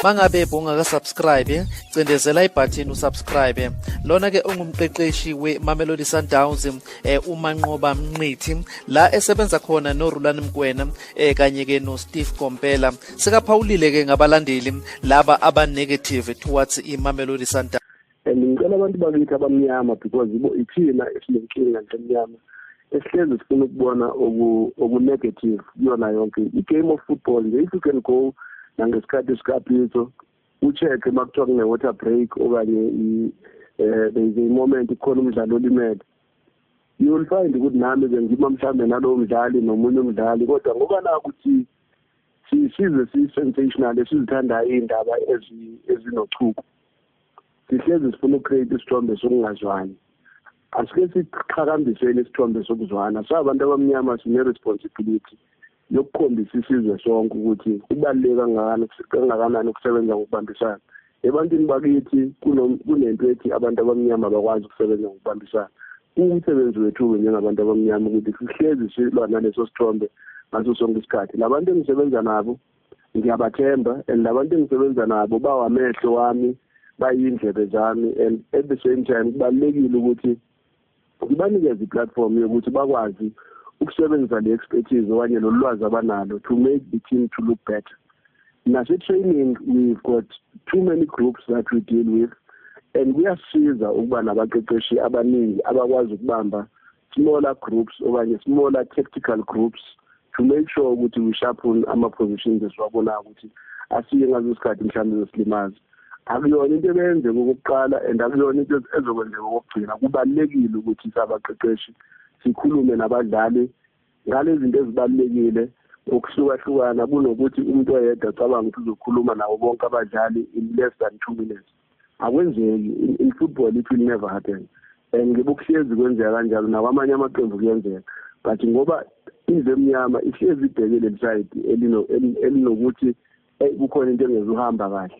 mangabe bungakasubscribe cindezela ibhathini usubscribe lona ke ungumqeqeshi we-mamelodi sundowns um eh, umanqoba mnqithi la esebenza khona norulani mkwena um eh, kanye-ke nosteve kompela sekaphawulile-ke ngabalandeli laba aba-negative towards i-mamelodi sundowns and ngicela abantu bakithi abamnyama because ibo ithina esinenkinga nto emnyama esihlezi sifuna ukubona okunegative kuyona yonke i-game of football nje if you can go nangesikhathi sikapitso ucheck uma kuthiwa kune-water break okanye um there is a moment kukhona umdlali olimele you will find ukuthi nami ke ngima mhlawumbe nalowo mdlali nomunye umdlali kodwa ngoba nakuthi size si-sensational esizithandayo iy'ndaba ezinochuku sihlezi sifuna ucreate isithombe sokungazwani asike siqhakambiseni isithombe sokuzwana so abantu abamnyama sine-responsibility yokukhombisa isizwe sonke ukuthi kubaluleke kangakanani kangakanani ukusebenza ngokubambisana ebantwini bakithi kunento ethi abantu abamnyama bakwazi ukusebenza ngokubambisana kuwumsebenzi wethu-ke njengabantu abamnyama ukuthi sihlezi silwa naleso sithombe ngaso sonke isikhathi labantu engisebenza nabo ngiyabathemba and labantu engisebenza nabo bawamehlo wami bayindlebe zami and at the same time kubalulekile ukuthi ngibanikeze i-platform yokuthi bakwazi ukusebenzisa le expertise okanye lolu lwazi abanalo to make the team to look better nase-training we've got too many groups that we deal with and kuyasiza ukuba nabaqeqeshi abaningi abakwazi ukubamba smaller groups okanye smaller tactical groups to make sure ukuthi we sharpen ama-positions esiwabonayo ukuthi asiye ngazo isikhathi mhlawumbe zesilimazi akuyona into ebeyenze kokuqala and akuyona into ezokwenzeka kokugcina kubalulekile ukuthi sabaqeqeshi sikhulume nabadlali ngalezinto ezibalulekile ngokuhlukahlukana kunokuthi umuntu oyedwa cabanga ukuthi uzokhuluma nawo bonke abadlali in less than two minutes akwenzeki in, in football it will never happen and ngebokuhlezi kwenzeka kanjalo nakwamanye amaqembu kuyenzeka but ngoba indlu emnyama ihlezi ibheke leli side elinokuthi eh, kukhona into engezuhamba kahle